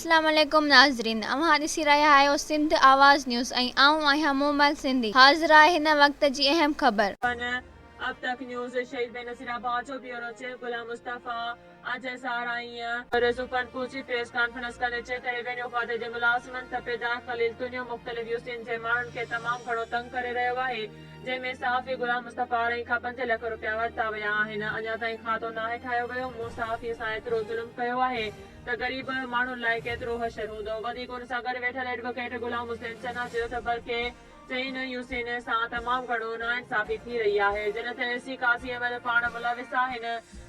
اسلام عليڪم ناظرين اوهان ڏسي رهيا آهيو سنڌ آواز نيوز ۽ آئون آهيان مومل سنڌي حاضر آهي هن وقت جي اهم خبر. پن اب تڪ نيوز شهيد بينظير آباد جو بيورو چيف غلام مصطفيٰ. اڄ اظهار آئين. رضو ڪنڊ پهچي پريس ڪانفرنس ڪندي چيڪ ڪري وڃو خواجه جي ملازمن ته پيدا خليل تنيو مختلف يوسين جي ماڻهن کي تمام گهڻو تنگ ڪري رهيو آهي جنهن ۾ صحافي غلام مصطفي آرائين کان پنج لک روپيا ورتا ويا آهن اڃا تائين کاتو ناهي ٺاهيو ويو مون صحافي سان ايترو ظلم ڪيو آهي ته غريب ماڻهن لاء ڪيترو حشر هوندو وڌيڪ ان سان گڏ ويٺل ايڊووڪيٽ غلام حسين چنا چيو ته بلڪه چيائين ته اهو سينه سان تمام گهڻو ناانصافي ٿي رهي آهي. جڏهن ته اي سي قاضي احمد پاڻ ملوث آهن.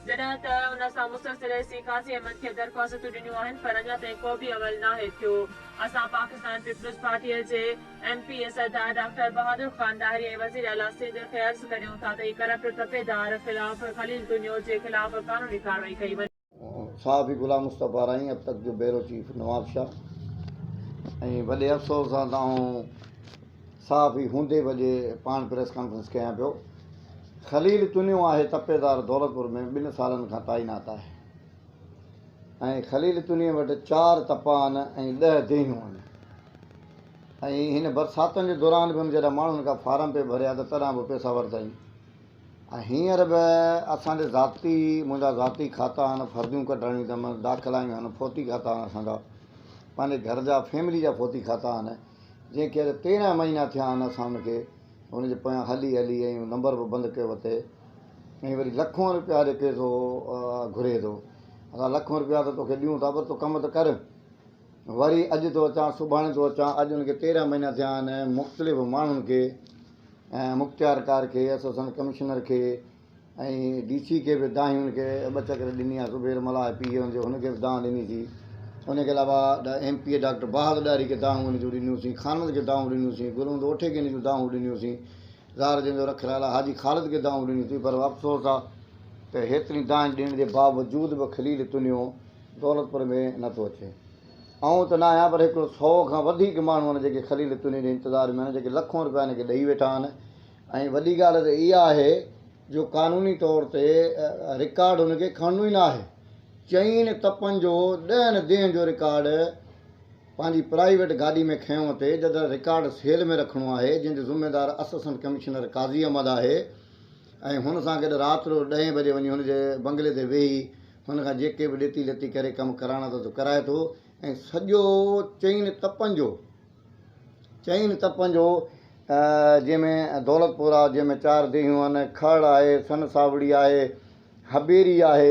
جڏهن ته ان سان مسلسل اي سي قاضي احمد کي درخواستون ڏنيون آهن پر اڃا تائين ڪو به عمل ناهي ٿيو. اسان پاڪستان پيپلز پارٽيء جي M P A Sardar doctor Bahadur Khan Dahri ۽ وزير اعليٰ سنڌ کي عرض ڪريون ٿا ته اي ڪرپٽ تپيدار خلاف خليل تنيو جي خلاف قانوني ڪارروائي ڪئي وڃي. صحافي غلام مصطفيٰ رائين اب تڪ جو بيورو چيف نوابشاهه ۽ وڏي افسوس سان ته آئون صحافي هوندي به اڄ پاڻ پريس ڪانفرنس ڪيان پيو خليل تنيو آهي تپيدار دولتپور ۾ ٻن سالن کان تعينات آهي ۽ خليل تنيو وٽ چار تپا آهن ۽ ڏهه ديهيون آهن ۽ هن برساتن جي دوران به هن جڏهن ماڻهن کان فارم پئي ڀريا ته تڏهن به پئسا ورتائين ۽ هينئر به اسان جي ذاتي منهنجا ذاتي کاتا آهن، فرديون ڪڍرائڻيون اٿم، داخلا جون آهن، فوتي کاتا آهن اسان جا، پنهنجي گهر جا فيملي جا فوتي کاتا آهن، جنهن کي اڄ تيرنهن مهينا ٿيا آهن اسان ان کي ان جي پويان هلي هلي ۽ نمبر به بند ڪيو اٿئي ۽ وري لکون روپيا اڄ ڪير ٿو گهري ٿو اسان لکون روپيا ته توکي ڏيون ٿا پر تون ڪم ته ڪر وري اڄ ٿو اچان سڀاڻي ٿو اچان اڄ ان کي تيرنهن مهينا ٿيا آهن مختلف ماڻهن کي ۽ مختيارڪار کي، اسسٽنٽ ڪمشنر کي ۽ ڊي سي کي به دانهين کي ٻه چڪر ڏني آهي، زبير ملاح پي اي هوندي هن کي به دانهن ڏني ٿي، ان کي علاوه M P A doctor Bahadur Dahri کي دانهون ان جون ڏنيون ٿي، خانند کي دانهون ڏنيون ٿي، گل محمد اوٺي کي ان جون دانهون ڏنيون ٿي، زار جن جو رک لالا حاجي خالد کي دانهون ڏنيون ٿي، پر افسوس آهي ته هيترين دانهين ڏيڻ جي باوجود به خليل تنيو دولتپور ۾ نه ٿو اچي. آئون ته نه آهيان پر هڪڙو سئو کان وڌيڪ ماڻهو آهن جيڪي خليل چني جي انتظار ۾ آهن جيڪي لکون رپيا هن کي ڏئي ويٺا آهن ۽ وڏي ڳالهه ته اها آهي جو قانوني طور تي رڪارڊ هن کي کڻڻو ئي نه آهي چئين تپن جو ڏهن ديهن جو رڪارڊ پنهنجي پرائيويٽ گاڏي ۾ کنيو اٿئي جڏهن رڪارڊ سيل ۾ رکڻو آهي جنهن جو ذميدار اسسٽنٽ ڪمشنر قاضي احمد آهي ۽ هن سان گڏ رات جو ڏهين بجي وڃي هن جي بنگلي تي ويهي هن کان جيڪي به ڏيتي ليتي ڪري ڪم ڪرائڻا اٿس سو ڪرائي ٿو ۽ سڄو چئن تپن جو چئن تپن جو جنهن ۾ دولت پور آهي جنهن ۾ چار ديهيون آهن کهڙ آهي سن ساوڙي آهي حبيري آهي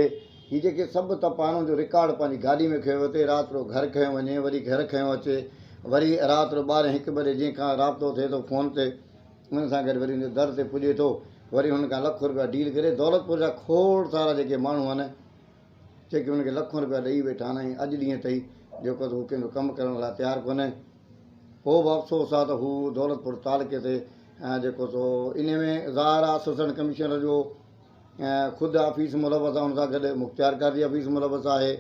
هي جيڪي سڀ تپ آهن ان جو رڪارڊ پنهنجي گاڏي ۾ کنيو وتي رات رو گهر کنيو وڃي وري گهر کنيو اچي وري رات رو ٻارهين هڪ بجي جنهن کان رابطو ٿئي ٿو فون تي ان سان گڏ وري ان جي در تي پڄي ٿو، وري هن کان لک روپيا ڊيل ڪري، دولتپور جا کوڙ سارا جيڪي ماڻهو آهن، جيڪي هن کي لکون روپيا ڏئي ويٺا آهن ۽ اڄ ڏينهن تائين جيڪو ته هو ڪنهن جو ڪم ڪرڻ لاء تيار ڪونهي. پوء به افسوس آهي ته هو دولتپور تعلقي تي جيڪو سو انهي ۾ ظاهر آهي اسسٽنٽ ڪمشنر جو خود آفيس ملوث آهي، ان سان گڏ مختيارڪار جي آفيس ملوث آهي،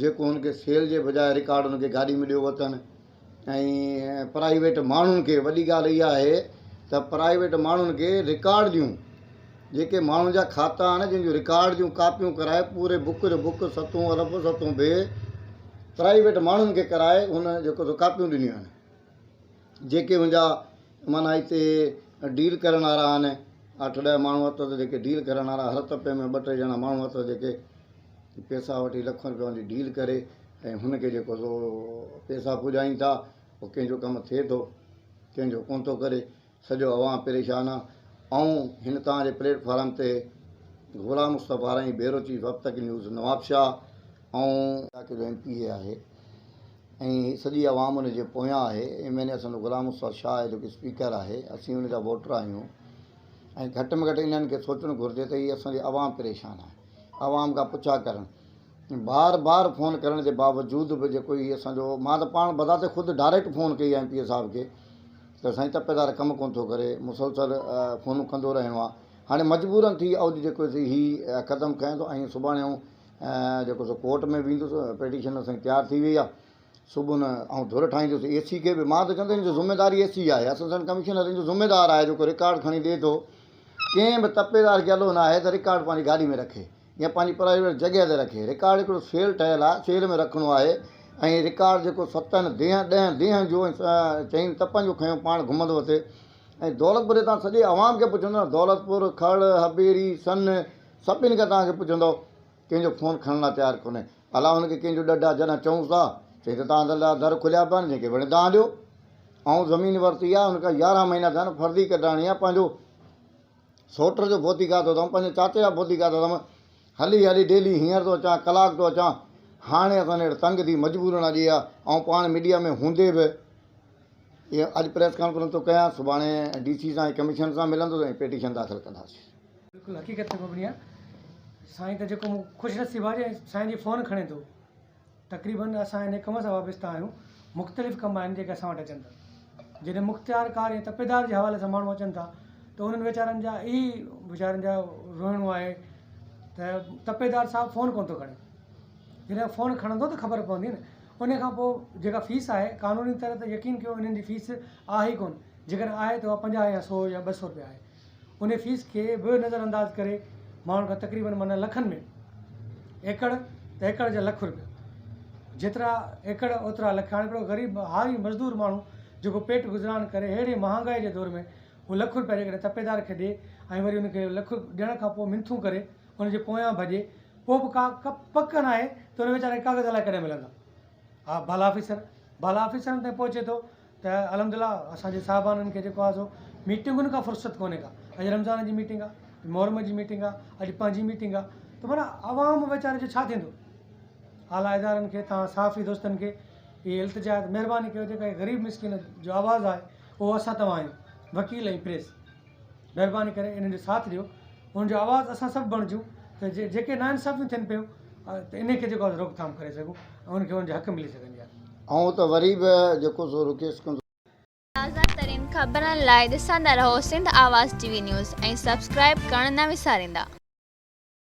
جيڪو هن کي سيل جي بجاء رڪارڊ هن کي گاڏي ۾ ڏيو وتن ۽ پرائيويٽ ماڻهن کي وڏي ڳالهه اها آهي ته پرائيويٽ ماڻهن کي رڪارڊ ڏيون جيڪي ماڻهن جا کاتا آهن جن جون رڪارڊ جون ڪاپيون ڪرائي پوري بڪ جو بڪ ستون الف ستون بي پرائيويٽ ماڻهن کي ڪرائي هن جيڪو سو ڪاپيون ڏنيون آهن. جيڪي منهنجا معنيٰ هتي ڊيل ڪرڻ وارا آهن، اٺ ڏهه ماڻهو اٿس جيڪي ڊيل ڪرڻ وارا، هر تپي ۾ ٻه ٽي ڄڻا ماڻهو اٿس جيڪي پيسا وٺي لکن رپين جي ڊيل ڪري ۽ هن کي جيڪو سو پيسا پڄائين ٿا، پوء ڪنهن جو ڪم ٿئي ٿو، ڪنهن جو ڪونه ٿو ڪري، سڄو عوام پريشان آهي. آئون هن توهان جي پليٽ فارم تي گهوڙا مصطفيٰ رائين، بيورو چيف اب تڪ نيوز، نوابشاهه، آئون. علائقي جو ايم پي اي آهي، ۽ سڄي عوام ان جي پويان آهي ايم اين اي اسان جو غلام استاد شاهه آهي جيڪو اسپيڪر آهي اسين ان جا ووٽر آهيون ۽ گهٽ ۾ گهٽ انهن کي سوچڻ گهرجي ته هي اسان جي عوام پريشان آهي عوام کان پڇا ڪرڻ بار بار فون ڪرڻ جي باوجود به جيڪو هي اسان جو مان ته پاڻ بذات خود ڊائريڪٽ فون ڪئي ايم پي اي صاحب کي ته سائين تپيدار ڪم ڪونه ٿو ڪري مسلسل فونون ڪندو رهڻو آهي هاڻي مجبورن ٿي اڄ جيڪو هي قدم کنيو ۽ سڀاڻي جيڪو سو ڪورٽ ۾ ويندس پيٽيشن اسانجي تيار ٿي وئي آ صبح نه آئون ڌر ٺاهيندس اي سي کي به مان ته چوندس ان جو ذميدار اي سي آهي اسسٽنٽ ڪمشنر ان جو ذميدار آهي جيڪو رڪارڊ کڻي ڏي ٿو ڪنهن به تپيدار کي الو ناهي ته رڪارڊ پنهنجي گاڏي ۾ رکي يا پنهنجي پرائيويٽ جڳهه تي رکي رڪارڊ هڪڙو سيل ٺهيل آهي سيل ۾ رکڻو آهي ۽ رڪارڊ جيڪو ستن ديهن ڏهن ديهن جو ۽ چئن تپن جو کنيو پاڻ گهمندو اٿي ۽ دولتپور جي تان سڄي عوام کي پڇندو دولتپور کڙ هبيري سن سڀني کان توهان کي پڇندؤ ڪنهن جو فون کڻڻ لاء تيار ڪونهي الا هن کي ڪنهن جو ڏڍ آ جڏهن چئونس ٿا چئي ته توهان لاء در کليا پيا آهن جنهن کي وڻي دانهن ڏيو آئون زمين ورتي آ ان کان يارهن مهينا ٿيا آهن فرضي ڪڍرائڻي آ پنهنجو سوٽر جو ڀوتي کاڌو اٿم پنهنجي چاچي جا ڀوتي کاڌا اٿم هلي هلي ڊيلي هينئر ٿو اچان ڪلاڪ ٿو اچان هاڻي اسان نيڙ تنگ ٿي مجبورن اڄ اها آئون پاڻ ميڊيا ۾ هوندي به اها اڄ پريس ڪانفرنس ٿو ڪيان سڀاڻي ڊي سي سان ۽ ڪمشنر سان ملندس ۽ پيٽيشن داخل ڪنداسين بلڪل حقيقت تي مبني آهي سائين ته جيڪو مون خوش نصيب آهي جو سائين جي فون کڻي ٿو تقريبن اسان ان ڪم سان وابسته آهيون مختلف ڪم آهن جيڪي اسان وٽ اچن ٿا جڏهن مختيار ڪار ۽ تپيدار جي حوالي سان ماڻهو اچن ٿا ته انهن ويچارن جا اهي ئي ويچارن جا روئڻو آهي ته تپيدار صاحب فون ڪونه ٿو کڻي جڏهن فون کڻندو ته خبر پوندي نه ان کان پوء جيڪا فيس آهي قانوني طرح ته يقين ڪيو انهن جي فيس آهي ڪونه جيڪڏهن آهي ته اها پنجاهه يا سو يا ٻه سو روپيا آهي انهي فيس کي به نظر انداز ڪري ماڻهن کان تقريبن معنيٰ لکن ۾ ايڪڙ ته ايڪڙ جا لک روپيا جيترا ايڪڙ اوترا لک هاڻي هڪڙو غريب هاري مزدور ماڻهو جيڪو پيٽ گذران ڪري اهڙي مهانگائي جي دور ۾ هو لک روپيا جيڪڏهن تپيدار کي ڏي ۽ وري ان کي لک ڏيڻ کان پوء منٿون ڪري ان جي پويان ڀڄي پوء به ڪا پڪ ناهي ته ان ويچاري کي ڪاغذ الائي ڪڏهن ملندا ها بالا آفيسر بالا آفيسرن تائين پهچي ٿو ته الحمدلله اسان جي صاحبانن کي جيڪو آ سو ميٽنگن کان فرصت ڪونهي ڪا اڄ رمضان جي ميٽنگ آ محرم جي ميٽنگ آ اڄ پنهنجي ميٽنگ آ ته معنيٰ عوام ويچاري جو ڇا ٿيندو اعليٰ ادارن کي توهان صحافي دوستن کي اهي التجا آهي ته مهرباني ڪري جيڪا هي غريب مسڪين جو آواز آهي اهو اسان توهان آهيون وڪيل ۽ پريس مهرباني ڪري انهن جو ساٿ ڏيو انهن جو آواز اسان سڀ بڻجون ته جي جيڪي نا انصافيون ٿين پيون ته انهي کي جيڪو آهي روڪ ٿام ڪري سگهون ۽ انهن کي انهن جا حق ملي سگهن جا. آئون ته وري به جيڪو سو رڪيس ڪندو. تازه ترين خبرن لاء ڏسندا رهو Sindh Awaz T V news ۽ subscribe ڪرڻ نه وساريندا.